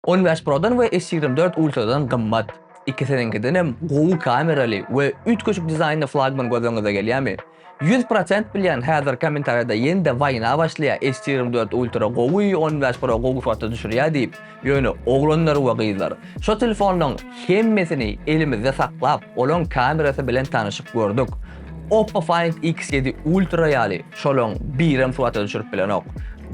On bäş Prodan we S ýigrimi dört Ultradan gymmat. Ikisiniňkidenem gowy kameraly we üýtgeşik dizaýnly flagman göz öňüňize gelýärmi? Ýüz prosent bilýän häzir kommentariýada ýene-de waýna başlaýar S ýigrimi dört Ultra gowy, on bäş Pro gowy suratda düşürýär diýip, ýöne oglanlar we gyzlar, şo telefonlaryň hemmesini elimizde saklap, olaryň kamerasy bilen tanyşyp gördük. Oppo Find X7 Ultra ýaly şolaň birem surata düşürip bilenok.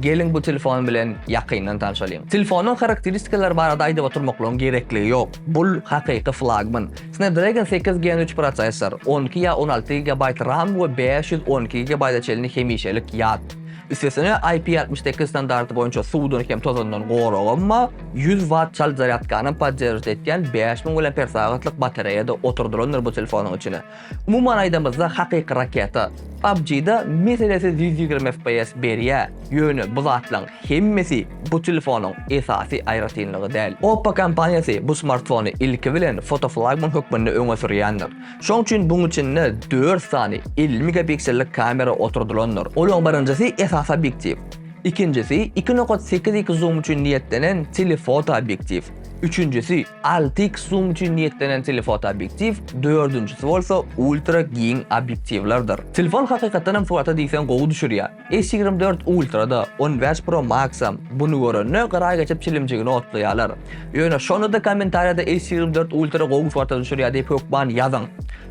Geliň bu telefon bilen ýakyndan tanşalyň. Telefonyň harakteristikalary barada aýdyp oturmaklygyň gerekligi ýok. Bul hakyky flagman. Snapdragon sekiz gen üç prosessor, on iki ýa on alty gigabaýt ram we bäş ýüz on iki gigabaýta çenli hemişelik ýat. Üstesine IP altmyş sekiz standarty boýunça suwdan hem tozandan goragam bar, ýüz watt çalt zarýadkany podderžit etýän bäş müň mAh-lyk batareýa-da oturdylandyr bu telefonyň içine. Umuman aýdamyzda hakyky raketa. PUBG-da meselesiz ýüz ýigrimi FPS berýä, ýöne bu zatlaň hemmesi bu telefonyň esasy aýratynlygy däl. Oppo kompaniýasy bu smartfony ilki bilen fotoflagman hökmünde öňe sürýändir. Şoň üçin buň içinde dört sany elli megapiksellik kamera oturdylandyr. Olaň birinjisi esasy obýektiw, ikinjisi iki nokat sekiz x zoom üçin niýetlenen telefoto obýektiw, üçünjisi, Alty X zoom üçin niýetlenen telefotoobýektiw, dördünjisi bolsa ultra giň obýektiwlerdir. Telefon hakykatdan hem surata diýseň gowy düşürýär. S ýigrimi dört Ultra-da, on bäş Pro Max-am buny görende gyraý geçip çilimjigini otlaýarlar. Ýöne şonda-da kommentariýada S ýigrimi dört Ultra gowy surata düşürýär diýip hökman ýazyň.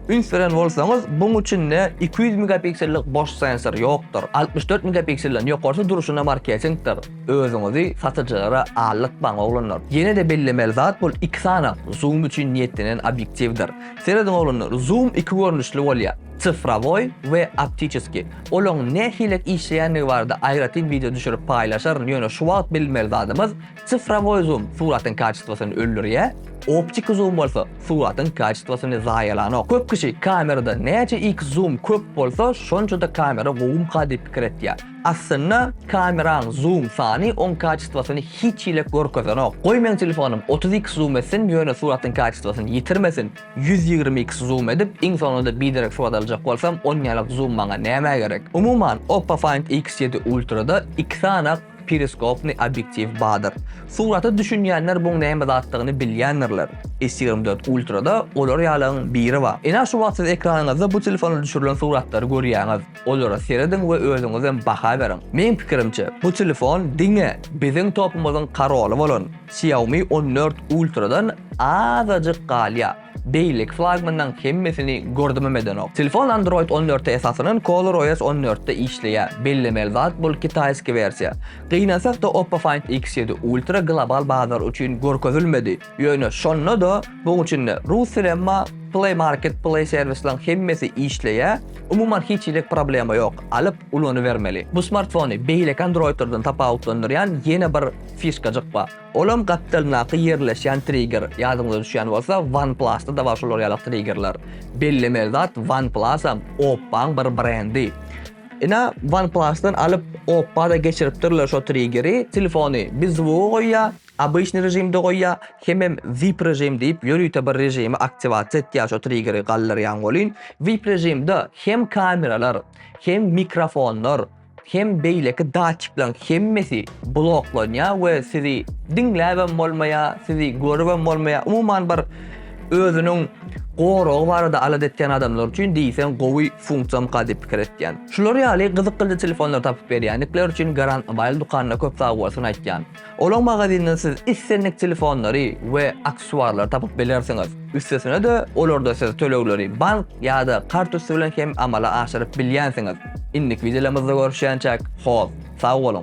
Üns beren bolsaňyz, buň içinde iki ýüz megapiksellik boş sensor ýokdur. Altmyş dört megapiksellden ýokarsy durşuna marketiňkdir. Özüňizi satyjylara aldyrtmaň oglanlar. Ýene-de bellemeli zat bul iki sany zoom üçin niýetlenen obýektiwdir. Serediň oglanlar zoom iki görnüşli bolýar, sifrowoý we optiçeskiý. Olaň nähilek işleýändigi barada aýratyn wideo düşürip paýlaşaryn, ýöne şu wagt bilmeli zadymyz sifrowoý zoom suratyň kaçistwosyny öldürýär, optiki zoom bolsa suratyň kaçistwosyny zaýalanok. Köp kişi kamerada näçe x zoom köp bolsa şonça-da kamera gowumka diýip pikir etýär. Aslynda kameraň zoom sany oň kaçistwasyny hiç hile görkezenok. Goý meň telefonym otuz iks zoom etsin ýöne suratyň kaçistwasyny ýitirmesin, ýüz ýigrimi iks zoom edip iň soňunda biderek surat aljak bolsam onýalyk zoom maňa nämä gerek. Umuman Oppo Find X ýedi Ultrada iki sany periskopny obýektiw badyr. Surata düşünýänler buň näme zatdygyny bilýändirler. S ýigrimi dört Ultrada olar ýalyň biri bar. Ina şu wagt siz ekranyňyzda bu telefonda düşürilen suratlary görýäňiz. Olara serediň we özüňizem baha beriň. Meň pikirimçe, bu telefon diňe biziň topumyzyň karoly bolan Xiaomi on dört Ultra-dan azajyk galýar. Beýleki flagmanlaryň hemmesini gördümem edenok. Telefon Android on dörte esaslanan ColorOS on dörtde işleýär. Bellemeli zat bul kitaýski wersiýa. Gynansak-da Oppo Find X ýedi Ultra global bazar üçin görkezilmedi. Ýöne şonda-da bug içinde Russell emma Play Market Play servisleriň hemmesi işleýä, umuman hiç hili problema ýok, alyp ulanybermeli. Bu smartfony beýleki Androidlerden tapawutlandyrýan ýene bir fişkajyk bar. Olam gapdalyndaky ýerleşýän trigger, ýadyňyza düşýän bolsa OnePlus-da da bar şolar ýaly triggerler. Bellemeli zat OnePlus-am Oppo-nyň bir brendi. Ina OnePlus-dan alyp Oppo-da geçiripdirler şo triggeri, telefony bir zwoga goýýa, Obyçnyý režimde goýýa, hemem vip režim diýip ýörite bir režimi aktiwasiýa etýä şo triggeri galdyrýaň welin vip režimde hem kameralar hem mikrofonlar hem beýleki datçiklaň hemmesi bloklanýa we sizi diňläbem bolmaýa sizi görübem bolmaýa umuman bir özüniň goragy barada alada etýän adamlar üçin diýseň gowy funksiýamyka diýip pikir etýän. Şular ýaly gyzykyldy telefonlar tapyp berýänikler üçin Garant Mobile dukanyna köp sagbolsun aýtýan. Olaň magazynydan siz islendik telefonlary we aksesuarlary tapyp bilersiňiz. Üstesine-de, olarda siz tölegleri bank ýa-da kartüsti bilen hem amala aşyryp bilýänsiňiz. Indiki wideolarymyzda görüşýänçäk, hoz, sag boluň!